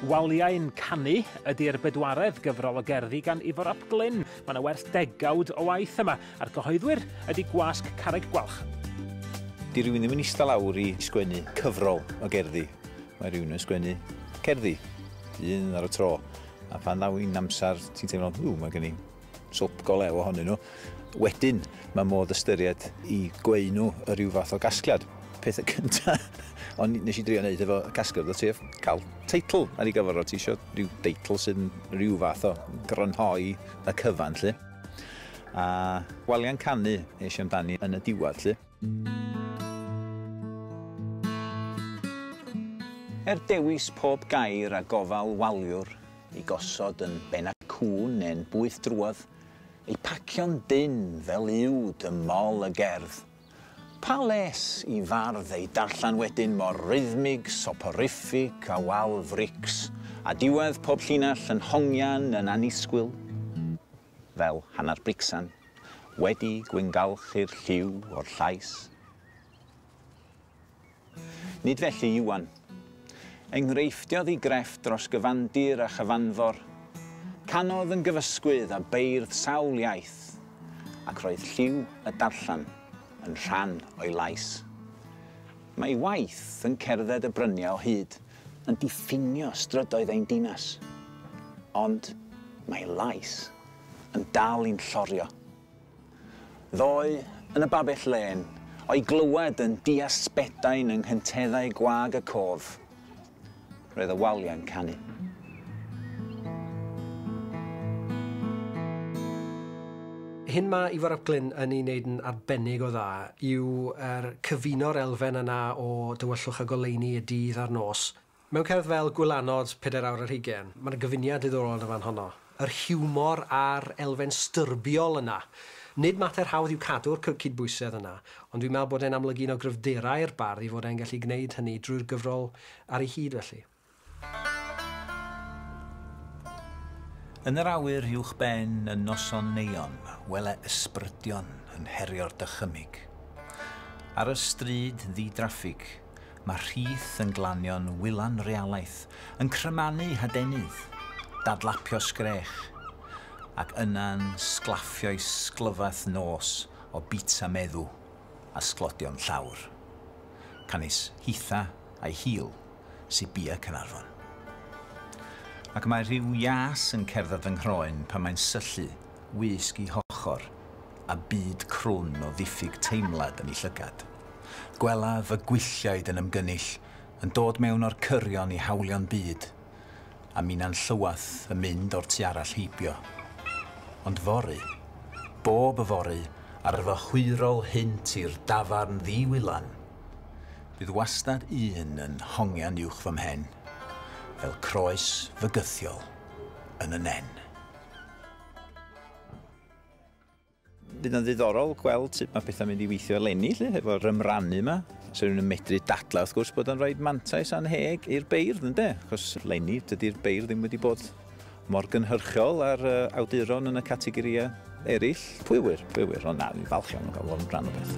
Waliau'n Canu ydy'r bedwaredd gyfrol o gerddi gan Ifor ap Glyn. Mae yna werth degawd o waith yma, a'r cyhoeddwyr ydy Gwasg Carreg Gwalch. Di rywun ddim yn ista lawr i sgwennu cyfrol o gerddi. Mae rhywun yn sgwennu cerddi, un ar y tro. A phan ddaw hi'n amser, ti'n teimlo, ww, mae gen i swp go lew ohonyn nhw, wedyn mae modd ystyried i gweu nhw y rhyw fath o gasgliad. Peth y cynta, ond nes i drio wneud efo casgliad o sef cael teitl ar ei gyfer o ti eisiau rhyw deitl sy'n rhyw fath o grynhoi y cyfan lle. A waliau'n canu eisiau amdani yn y diwad lle. Er dewis pob gair a gofal waliwr i gosod yn ben y cŵn neu'n bwyth drwodd, ei pacio'n dynn fel uwd ym mol y gerdd. Pa les i fardd ei darllen wedyn mor rythmig, soporific a wal frics, a diwedd pob llinell yn hongian yn annisgwyl? fel hanner bricsan, wedi gwyngalchu'r lliw o'r llais. Nid felly Iwan. Enghreiffdiodd i grefft dros gyfandir a chyfanfor, canodd yn gyfysgwydd a beirdd sawl iaith, ac roedd lliw y darllen yn rhan o'i lais. Mae ei waith yn cerdded y bryniau o hyd, yn diffinio strydoedd ein dinas, ond mae lais yn dal i'n llorio. Ddoe, yn y babell lên, o'i glywed yn dias Sbedain yng nghenteddau gwag y cof, roedd y waliau'n canu. hyn ma' Ifor ap Glyn yn ei wneud yn arbennig o dda yw er cyfuno'r elfen yna o dywyllwch a goleuni y dydd a'r nos mewn cerdd fel Gwylanod, pedair awr ar hugain. Ma' 'na gyfuniad diddorol yn y fan honno. Yr hiwmor a'r elfen styrbiol yna. Nid mater hawdd yw cadw'r cy- cydbwysedd yna, ond dwi'n meddwl bod e'n amlygu un o gryfderau'r bardd i fod e'n gallu gwneud hynny drwy'r gyfrol ar ei hyd felly. Yn yr awyr uwch ben yn noson Neion wele ysbrydion yn herio'r dychymyg. Ar y stryd ddi-draffig mae rhith yn glanio'n wylan realaeth yn crymanu hadenydd, dadlapio sgrech, ac yna'n sglaffio'i sglyfath nos o bizza meddw a sglodion llawr. Canys hitha a'i hil. sy bia Caernarfon. Ac mae rhyw ias yn cerdded fy nghroen pan mae'n syllu wisg i hochr a byd crwn o ddiffyg teimlad yn ei llygad. Gwela fy gwylliaid yn ymgynnull, yn dod mewn o'r cyrion i hawlio'n byd, a minnau'n llywath yn mynd o'r tu arall heibio. Ond fory, bob yfory, ar fy hwyrol hynt i'r dafarn ddi-wylan, Bydd wastad un yn hongian uwch fy mhen, fel croes fygythiol yn y nen. bydd yn ddiddorol gweld sut mae pethau'n mynd i weithio eleni, lle, efo'r ymrannu yma. So rwy'n medru dadla, wrth gwrs, bod yn rhaid mantais anheg i'r beirdd, ynddo? Cos eleni, dydy'r beirdd ddim wedi bod mor gynhyrchiol â'r awduron yn y categorïau eraill. Pwy ŵyr, pwy ŵyr, ond na, fi'n falch iawn o gael fod yn rhan o beth.